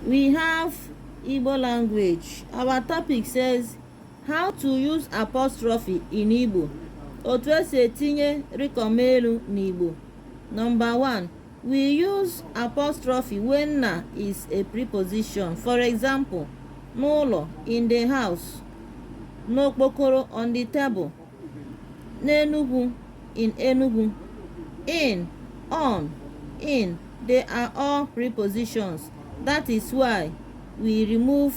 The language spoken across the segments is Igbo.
we have Igbo language. Our topic says how to use apostrophe in Igbo. Otu esi etinye rịkọm elu n'Igbo. Number one, we use apostrophe when na is a preposition. For example, n'ụlọ, in the house, n'okpokoro, on the table. n'Enugu in Enugu in on in they are all prepositions that is why we remove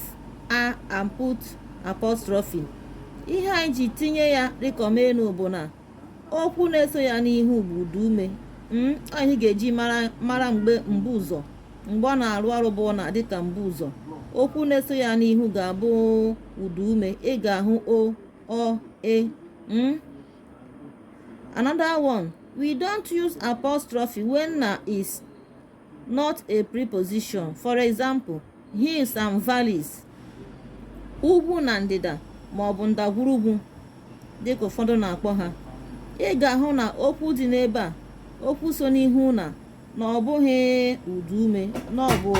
a and put apostrophe ihe anyị ji tinye ya rịkọm elu bụ na okwu na-eso ya n'ihu bụ ụda ume hmm, ihe ị ga-eji mara mgbe mbuụzọ mgbe ọ na-arụ ọrụ bụ na dịka mbuụzọ okwu na-eso ya n'ihu ga-abụ ụda ume ị ga-ahụ o or a mm? another one we don't use apostrophe when na is not a preposition for example hills and valleys ugwu na ndịda ma ọ bụ ndagwurugwu dịka ụfọdụ na-akpọ ha ị ga-ahụ na okwu dị n'ebe a okwu so n'ihu na na ọ bụghị ụda ume na ọ bụ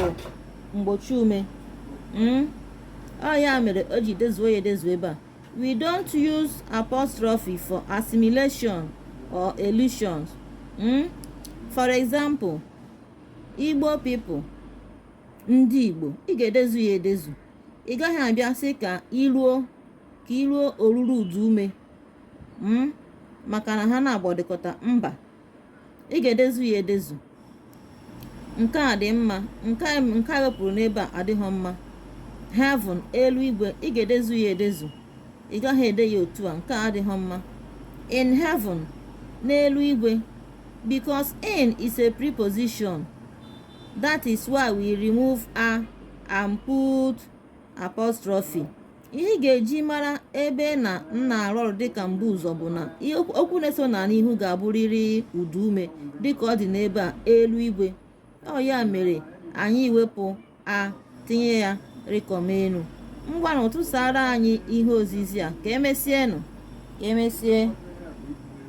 mgbochi ume hmm? ọ ya mere o ji dezuo ya edezu ebe a we don't use apostrophe for assimilation or elisions hmm? for example igbo people ndị igbo ị ga-edezu ya edezu ị gaghị abịa sị ka i ruo ka i ruo oruru ụda ume hmm? maka na ha na-agbọdịkọta mba ị ga-edezu ya edezu nke a dị mma nke e wepụrụ n'ebe a adịghị mma heaven elu igwe ị ga-edezu ya edezu ị gaghị ede ya otu a nke a adịghị mma in heaven n'elu igwe because in is a preposition that is why we remove a and put apostrophe ihe ị ga-eji mara ebe na na-arụ ọrụ dịka mbuụzọ bụ na okwu na-eso na n'ihu ga-abụrịrị ụda ume dịka ọ dị n'ebe a elu igwe ọ ya mere anyị ji wepụ a tinye ya rịkọm elu ngwanụ tụsara anyị ihe ozizi a ka emesienụ ka emesie